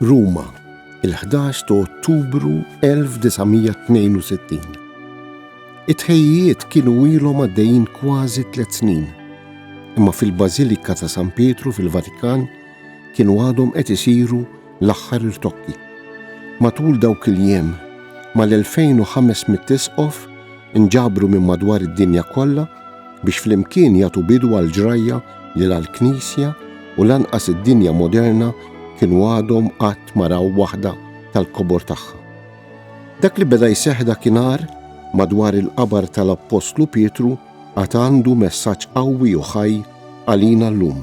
Ruma, il-11 ta' Ottubru 1962. It-ħejjiet kienu ilhom għaddejjin kważi tliet snin, imma fil-Bażilika ta' San Pietru fil-Vatikan kienu għadhom qed isiru L-aħħar irtokki. Matul dawk il-jiem, mal-2,500 isqof inġabru minn madwar id-dinja kollha biex flimkien jagħtu bidu għall-ġrajja li la l-Knisja u lanqas id-dinja moderna kienu għadhom qatt ma raw waħda tal-kobor tagħha. Dak li beda jseħħ dakinhar madwar il-qabar tal-Appostlu Pietru għad għandu messaġġ qawwi u ħaj għalina llum.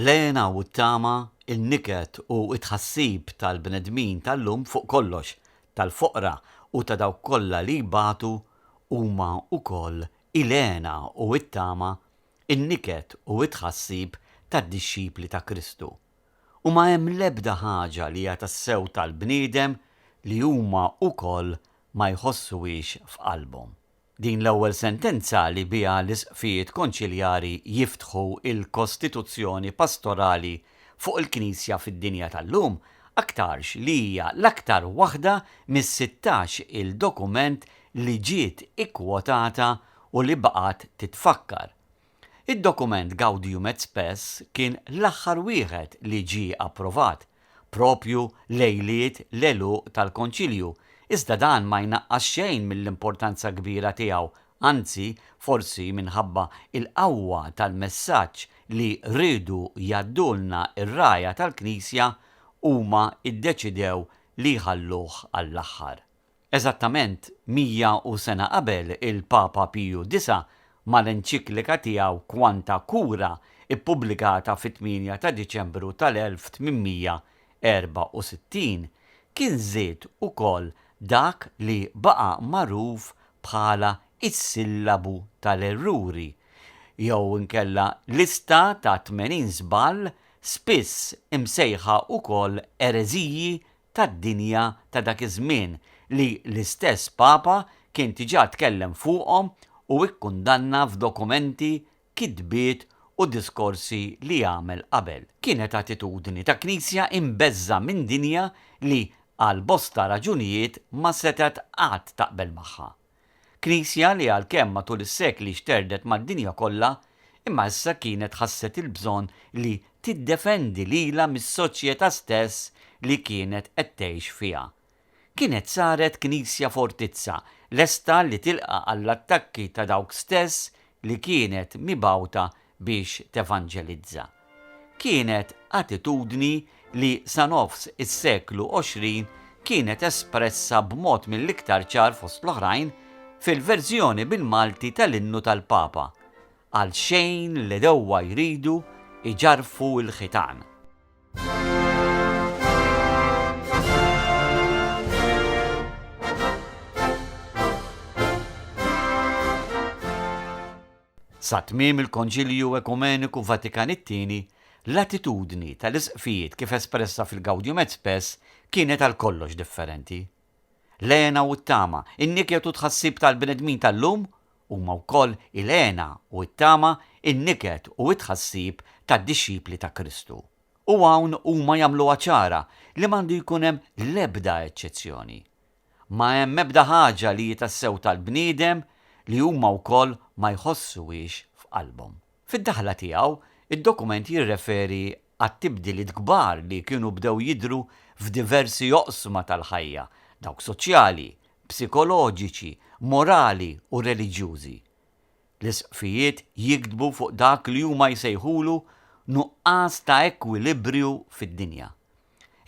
L-hena u t-tama, in-niket u t-tħassib tal-bnedmin tal-lum fuq kollox, tal-foqra u ta' dawk kollha li jbatu, huma wkoll il-hena u t-tama, in-niket u t-tħassib tad-dixxipli ta' Kristu. U ma hemm l-ebda ħaġa li hija tassew tal-bniedem li huma wkoll ma jħossuhiex f'qalbhom. Din l-ewwel sentenza li biha l-Isqfijiet Konċiljari jiftħu l-kostituzzjoni pastorali fuq il-Knisja fid-dinja tal-lum, aktarx li hija l-aktar waħda mis-sittax il-dokument li ġiet ikkwotata u li baqgħet titfakkar, Id-dokument Gaudium et Spes kien l-aħħar wieħed li ġie approvat, proprju lejliet l-għeluq tal-Konċilju, iżda dan ma jnaqqas xejn mill-importanza kbira tiegħu, anzi, forsi minħabba l-qawwa tal-messaġġ li riedu jgħaddulna r-rgħajja tal-Knisja, huma ddeċidew li jħalluh għall-aħħar. Eżattament 101 sena qabel, il-Papa Piju Disa', mal-enċiklika tiegħu Quanta Cura, ippubblikata fit-8 ta' Diċembru tal-1864, kien żied ukoll dak li baqa' magħruf bħala s-sillabu tal-erruri, jew inkella lista ta' tmenin żball, spiss imsejħa ukoll ereżiji tad-dinja ta' dak iż-żmien li l-istess Papa kien diġà tkellem fuqhom u kkundanna f'dokumenti, kitbiet u diskorsi li għamel qabel. Kienet attitudni ta' Knisja imbeżżgħa minn dinja li għal bosta raġunijiet ma setgħet qatt taqbel magħha. Knisja li għalkemm matul is-sekli xterdet mad-dinja kollha, imma issa kienet ħasset il-bżonn li tiddefendi lilha mis-soċjetà stess li kienet qed tgħix fiha. Kienet saret knisja fortizza, lesta li tilqa' għall-attakki ta' dawk stess li kienet mibgħuta biex tevanġelizza. Kienet attitudni li sa nofs is-seklu għoxrin kienet espressa b'mod mill-iktar ċar fost l-oħrajn fil-verżjoni bil-Malti tal-Innu tal-Papa, Għalxejn l-għedewwa jridu jġarrfu l-ħitan. Sa tmiem il-Konċilju Ekumeniku Vatikan it-Tieni, l-attitudni tal-Isqfijiet kif espressa fil-Gaudium et Spes kienet għal kollox differenti. L-hena u t-tama, in-niket u t-tħassib tal-bnedmin tal-lum huma wkoll il-hena u t-tama, in-niket u t-tħassib tad-dixxipli ta' Kristu. U hawn huma jagħmluha ċara li m'għandu jkun hemm l-ebda eċċezzjoni. Ma hemm ebda ħaġa li hi tassew tal-bniedem li huma wkoll ma jħossuhiex f'qalbhom. Fid-daħla tiegħu, id-dokument jirreferi għat-tibdiliet kbar li kienu bdew jidhru f'diversi oqsma tal-ħajja, dawk soċjali, psikoloġiċi, morali u reliġjużi. L-Isqfijiet jiktbu fuq dak li huma jsejħulu nuqqas ta' ekwilibriju fid-dinja.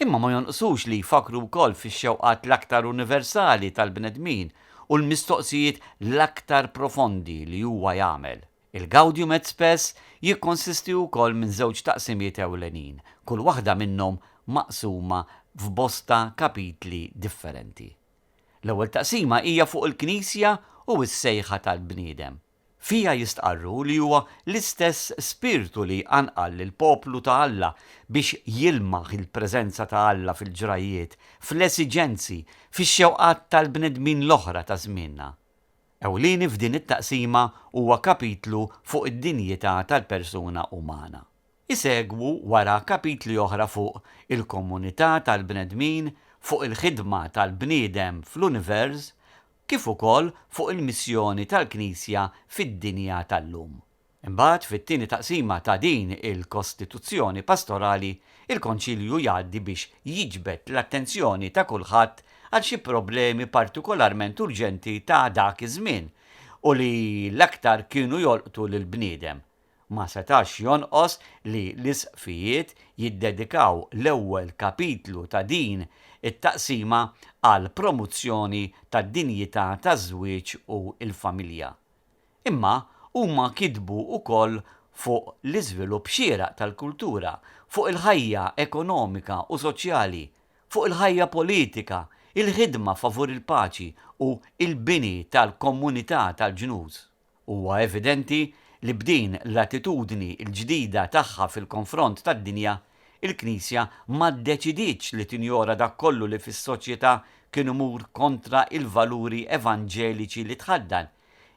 Imma ma jonqsux li jfakkru wkoll fix-xewqat l-aktar universali tal-bnedmin u l-mistoqsijiet l-aktar profondi li huwa jagħmel. Il-Gaudium et Spes jikkonsisti wkoll minn żewġ taqsimiet ewlenin, kull waħda minnhom maqsuma f'bosta kapitli differenti. L-ewwel taqsima hija fuq il-Knisja u s-sejħa tal-bniedem. Fiha jistqarru li huwa l-istess Spirtu li jqanqal lill-poplu ta' Alla biex jilmaħ il-preżenza ta' Alla fil-ġrajjiet, fl-esiġenzi, fix-xewqat tal-bnedmin l-oħra ta' żmienna. ewlieni f'din it-taqsima huwa kapitlu fuq id-dinjità tal-persuna umana. Isegwu wara kapitli oħra fuq il-komunità tal-bnedmin, fuq il-ħidma tal-bniedem fl-univers, kif ukoll fuq il-missjoni tal-Knisja fid-dinja tal-lum. Imbagħad, fit-tieni taqsima ta' din il-Kostituzzjoni Pastorali, il-Konċilju jgħaddi biex jiġbed l-attenzjoni ta' kulħadd għal xi problemi partikolarment urġenti ta' dak iż-żmien u li l-aktar kienu jolqtu lill-bniedem. Ma setax jonqos li l-Isqfijiet jiddedikaw l-ewwel kapitlu ta' din it-taqsima għall-promuzzjoni tad-dinjità taż-żwieġ u l-familja. Imma huma kitbu wkoll fuq l-iżvilupp xieraq tal-kultura, fuq il-ħajja ekonomika u soċjali, fuq il-ħajja politika, il-ħidma favur il-paċi u l-bini tal-komunità tal-ġnus. Huwa evidenti li b'din l-attitudni l-ġdida tagħha fil-konfront tad-dinja, Il-Knisja ma ddeċidietx li tinjora dak kollu li fis-soċjetà kien imur kontra l-valuri evanġeliċi li tħaddan,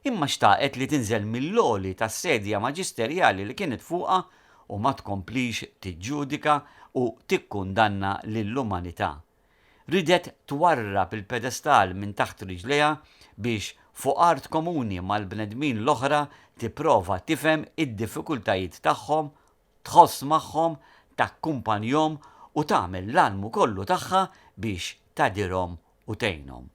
imma xtaqet li tinżel mill-għoli tas-sedia maġisterjali li kienet fuqha u ma tkomplix tiġġudika u tikkundanna lill-umanità. Ridet twarrab il-pedestal minn taħt riġlejha biex, fuq art komuni mal-bnedmin l-oħra, tipprova tifhem id-diffikultajiet tagħhom tħoss magħhom, takkumpanjhom u tagħmel l-almu kollu tagħha biex tgħadirhom u tgħinhom.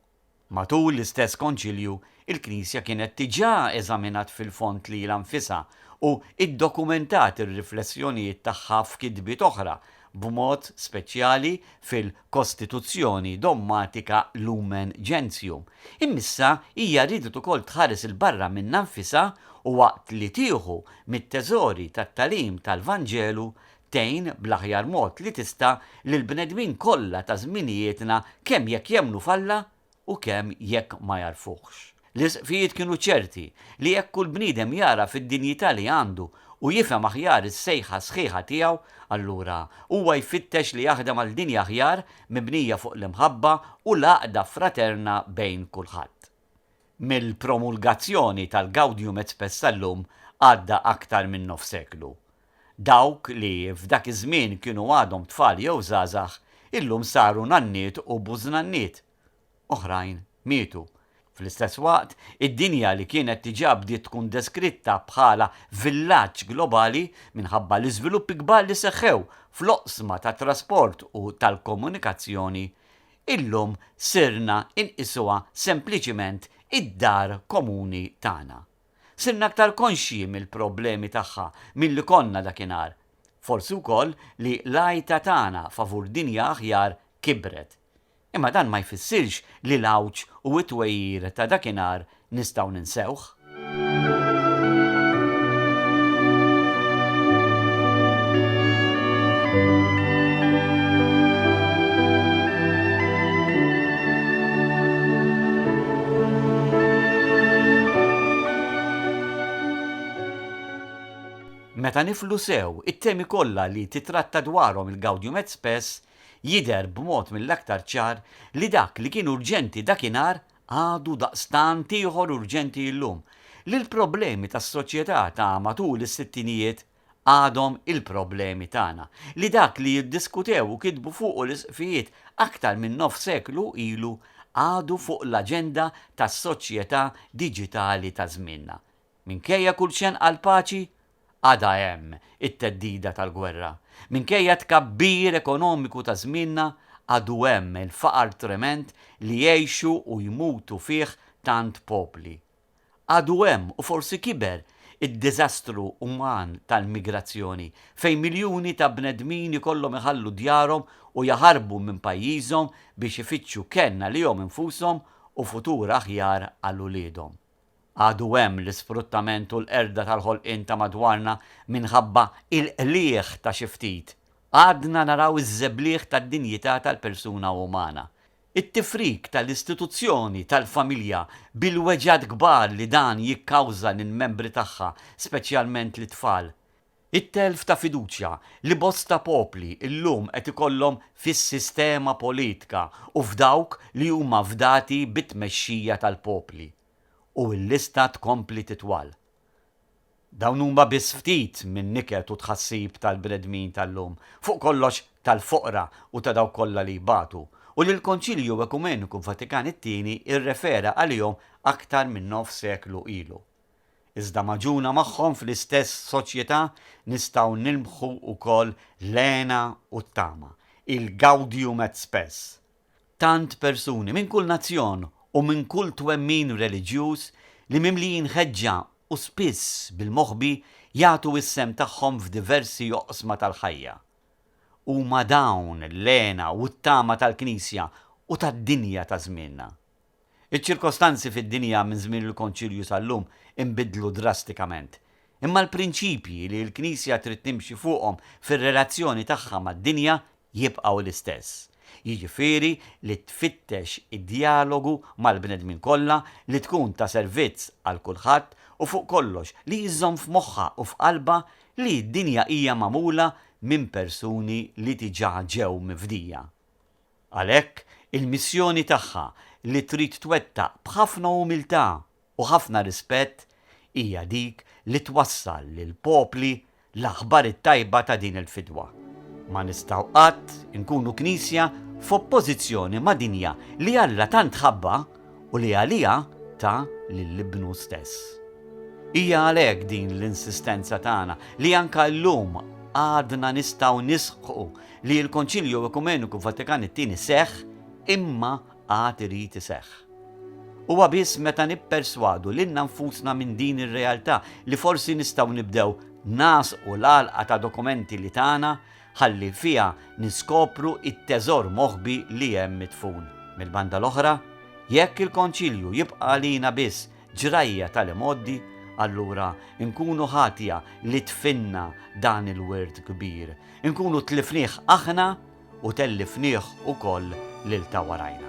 Matul l-istess Konċilju, il-Knisja kienet diġà eżaminat fil-fond lilha nfisha u ddokumentat ir-riflessjonijiet tagħha f'kitbiet oħra, b'mod speċjali fil. kostituzzjoni dogmatika Lumen Gentium, imissa hija riedet ukoll tħares 'il barra minnha nfisha u waqt li tieħu mit-teżori tat-tagħlim tal-Vanġelu tgħin bl-aħjar mod li tista' lill-bnedmin kollha ta' żminijietna kemm jekk jemmnu f'Alla u kemm jekk ma jagħrfuhx. L-Isqfijiet kienu ċerti li jekk kull bniedem jagħraf id-dinjità li għandu u jifhem aħjar is-sejħa sħiħa tiegħu, allura huwa jfittex li jaħdem għal dinja aħjar mibnija fuq l-imħabba u l-għaqda fraterna bejn kulħadd. Mill-promulgazzjoni tal-Gaudium et Spes tal-lum għadda aktar minn nofs seklu. Dawk li f'dak iż-żmien kienu għadhom tfal jew żgħażagħ illum saru nanniet u bużnanniet. Oħrajn mietu. Fl-istess waqt, id-dinja li kienet diġà bdiet tkun deskritta bħala villaġġ globali minħabba l-iżviluppi kbar li seħħew fl-oqsma tat-trasport u tal-komunikazzjoni, illum sirna nqisuha sempliċiment id-dar komuni tagħna. Sirna aktar konxji mill-problemi tagħha milli konna dakinhar. Forsi wkoll li l-għajta tagħna favur dinja aħjar kibret. Imma dan ma jfissirx li l-għawġ u t-twegħir ta' dakinhar nistgħu ninsewh. Meta niflu sew, it-temi kollha li titratta dwarhom il-Gaudium et Spes, jidher b'mod mill-aktar ċar li dak li kien urġenti dakinhar għadu daqstant ieħor urġenti illum, li l-problemi tas-soċjetà ta' matul is-sittinijiet, għadhom il-problemi tagħna, li dak li iddiskutew u kitbu fuqu l-Isqfijiet aktar minn nofs seklu ilu għadu fuq l-aġenda tas-soċjetà diġitali ta' żmienna. Minkejja kull xenqa għall-paċi, għadha hemm it-theddida tal-gwerra. Minkejja t-tkabbir ekonomiku ta' żmienna, għadu hemm il-faqar trement li jgħixu u jmutu fih tant popli. Għadu hemm, u forsi kiber, id-diżastru uman tal-migrazzjoni, fejn miljuni ta' bnedmin ikollhom iħallu djarhom u jaħarbu minn pajjiżhom biex ifittxu kenn għalihom infushom u futur aħjar għal uliedhom. Għadu hemm l-isfruttament u l-qerda tal-ħolqien ta' madwarna minħabba il-qligħ ta' xi ftit. Għadna naraw iż-żebliħ tad-dinjità tal-persuna umana. It-tifrik tal-istituzzjoni tal-familja bil-weġgħat kbar li dan jikkawża lill-membri tagħha, speċjalment lit-tfal. It-telf ta' fiduċja li bosta popli llum qed ikollhom fis-sistema politka u f'dawk li huma fdati bit-tmexxija tal-popli. U l-lista tkompli titwal. Dawn huma biss ftit min-niket u tħassib tal-bnedmin tal-lum, fuq kollox tal-foqra u ta' dawk kollha li jbatu, u li l-Konċilju Ekumeniku Vatikan it-Tieni rrefera għalihom aktar minn nofs seklu ilu. Iżda magħġuna magħhom fl-istess soċjetà nistgħu nilmħu wkoll l-hena u t-tama, il-gaudium et spes, tant persuni minn kull nazzjon u minn kull twemmin reliġjuż li mimlijin ħeġġa u spiss bil-moħbi jagħtu s-sehem tagħhom f'diversi oqsma tal-ħajja. Huma dawn l-hena u t-tama tal-Knisja u tad-dinja ta' żmienna. Iċ-ċirkostanzi fid-dinja minn żmien il-Konċilju sal-lum inbidlu drastikament. Imma l-prinċipji li l-Knisja trid timxi fuqhom fir-relazzjoni tagħha mad-dinja jibqgħu l-istess, jiġifieri li tfittex id-djalogu mal-bnedmin kollha, li tkun ta' servizz għal kulħadd u fuq kollox li jżomm f'moħħha u f'qalbha li d-dinja hija magħmula minn persuni li diġà ġew mifdija. Għalhekk, il-missjoni tagħha li trid twettaq b'ħafna umiltà u ħafna rispett hija dik li twassal lill-popli l-aħbar it-tajba ta' din il-fidwa. Ma nistgħu qatt inkunu Knisja f'oppożizzjoni ma' dinja li Alla tant ħabbha u li għaliha ta lil Ibnu stess. Hija għalhekk din l-insistenza tagħna li anke llum għadna nistgħu nisħqu li l-Konċilju Ekumeniku Vatikan it-Tieni seħħ imma għad irid iseħħ. Huwa biss meta nipperswadu lilna nfusna minn din ir-realtà li forsi nistgħu nibdew nagħżqu l-għalqa ta' dokumenti li tana ħalli fiha niskopru t-teżor moħbi li hemm midfun. Mill-banda l-oħra, jekk il-Konċilju jibqa' għalina biss ġrajja tal-imgħoddi, allura nkunu ħatja li tfinna dan il-wirt kbir, inkunu tlifnieh aħna u tellifnieh ukoll lil ta' warajna.